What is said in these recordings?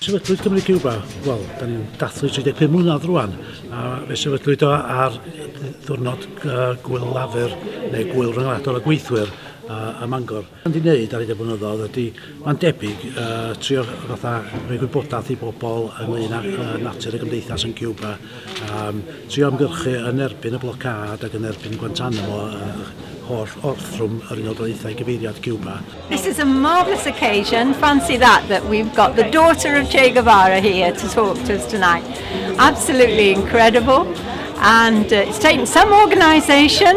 Sefydlwyd Cymru Cuba, wel, da ni'n dathlu 35 mlynedd rwan, a fe sefydlwyd o ar ddwrnod uh, Gwyl Lafur, neu Gwyl Rhyngwladol y Gweithwyr uh, ym Mangor. Yn di wneud ar y de blynyddoedd ydy, mae'n debyg, uh, trio fatha rhoi gwybodaeth i bobl ynglyn â uh, natur y gymdeithas yn Cuba, um, trio ymgyrchu yn erbyn y blocad ac yn erbyn Guantanamo, uh, holl orthrwm yr Unol Daleithiau gyfeiriad Cuba. This is a marvellous occasion, fancy that, that we've got the daughter of Che Guevara here to talk to us tonight. Absolutely incredible, and uh, it's taken some organisation,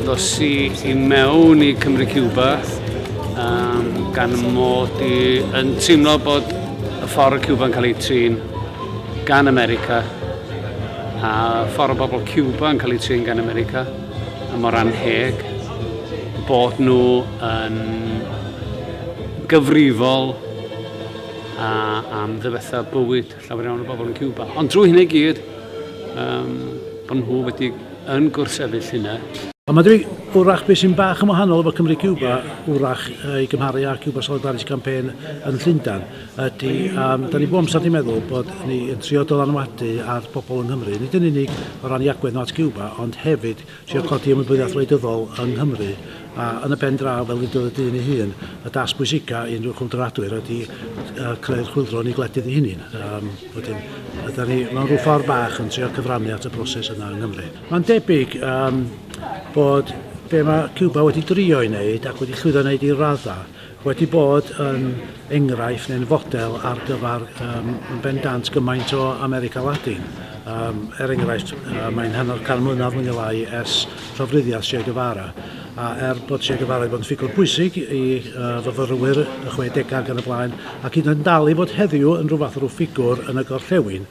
Ddos i i mewn i Cymru Cuba um, gan mod i yn teimlo bod y ffordd y Cuba'n cael ei trin gan America a ffordd o bobl Cuba yn cael eu trin gan America a mor anheg bod nhw yn gyfrifol a, am ddefetha bywyd llawer iawn o bobl yn Cuba. Ond drwy hynny gyd, um, bod nhw wedi yn gwrsefyll hynna, Ond mae dwi, wrach beth sy'n bach yn wahanol efo Cymru Cuba, wrach i gymharu â Cuba Solidarity Campaign yn Llundan, ydy, um, da ni bob amser wedi meddwl bod ni yn trio dylanwadu ar bobl yng Nghymru, nid yn unig o ran i agwedd nhw at Cuba, ond hefyd Trio codi ymwybyddiaeth wleidyddol yng Nghymru, a yn y pen draw, fel ddudodd y dyn ei hun, y dasg bwysica i unrhyw chwyldroadwyr ydi creu'r chwyldro yn ei gwledydd ei hunin. Um, wedyn, ydy ni mewn rhyw ffordd bach yn trio cyfrannu at y broses yna yng Nghymru. Mae'n debyg um, bod be mae Cuba wedi drio i wneud ac wedi llwyddo wneud i radda wedi bod yn enghraifft neu'n fodel ar gyfer um, yn bendant gymaint o America Latin. Um, er enghraifft, uh, mae'n hanner can mlynedd mwy neu lai ers llofruddiaeth Che Guevara, a er bod Che Guevara wedi bod yn ffigwr bwysig i uh, fyfyrwyr y 60au gan y blaen, ac hyd yn dal i fod heddiw yn rhywbeth rhyw ffigwr yn y gorllewin,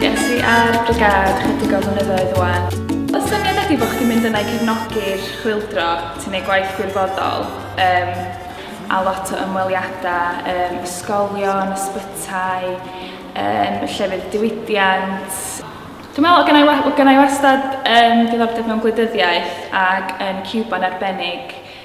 Ges i ar Brigâd chydig o flynyddoedd wan. Y syniad ydi bod chdi'n mynd yna i cefnogi'r chwildro, ti'n ei gwaith gwirfoddol, um, a lot o ymweliadau, um, ysgolion, ysbytai, um, llefydd diwydiant, Dwi'n meddwl, gen i, gen i wastad um, diddordeb mewn gwleidyddiaeth ac yn Cuba yn arbennig,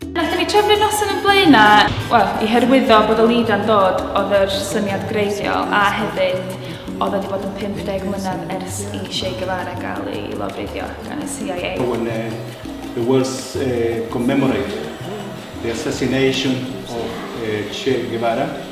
Nathon ni trefnu'r noson yn Blaena, wel, i hyrwyddo bod y Lida'n dod oedd yr syniad greiddiol a hefyd oedd wedi bod yn 50 mlynedd ers i Che Guevara gael ei lofruddio gan y CIA. When uh, the world uh, commemorate the assassination of uh, Che Guevara,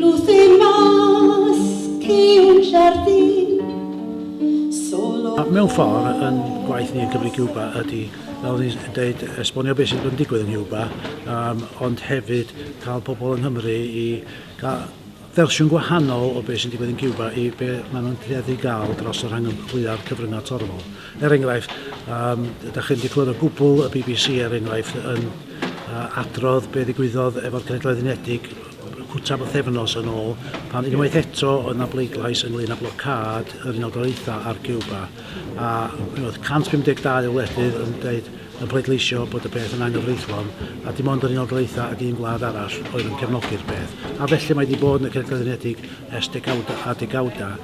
Lwthin mas ciwn jardin solo A mewn ffordd, yn gwaith ni yn Cymru Cuba ydy, fel o'n i'n deud, esbonio beth sydd yn digwydd yn Cuba, um, ond hefyd cael pobl yng Nghymru i gael fersiwn gwahanol o beth sy'n digwydd yn Cuba i be maen nhw'n tueddu gael dros y rhangymhlyad cyfryngau torfol. Er enghraifft, um, ydych chi'n diclwr o gwbl y BBC, er enghraifft, yn uh, adrodd be ddigwyddodd efo'r Cenedloedd Unedig cwta o thefnos yn ôl, pan unwaith eto oedd na bleidlais ynglyn â blocad yr Unol Daleithiau ar Cuba, a oedd 152 o wledydd yn dweud yn pleidleisio bod y peth yn anghyfreithlon, a dim ond yr Unol Daleithiau ac un gwlad arall oedd yn cefnogi'r peth. A felly mae wedi bod yn y Cenedloedd Unedig ers degawda a degawda.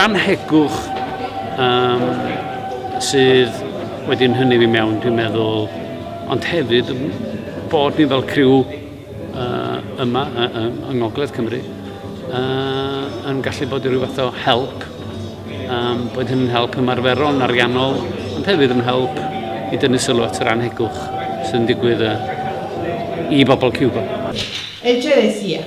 Rhan hegwch um, sydd wedi yn hynny fi mewn, dwi'n meddwl, ond hefyd bod ni fel criw uh, yma uh, uh, yng Ngogledd Cymru uh, yn gallu bod i ryw fath o help, um, bod hynny'n help ymarferol, ariannol, ond hefyd yn help i dynnu sylw at yr anhegwch sy'n digwydd uh, i bobl Cuba. Echeresia,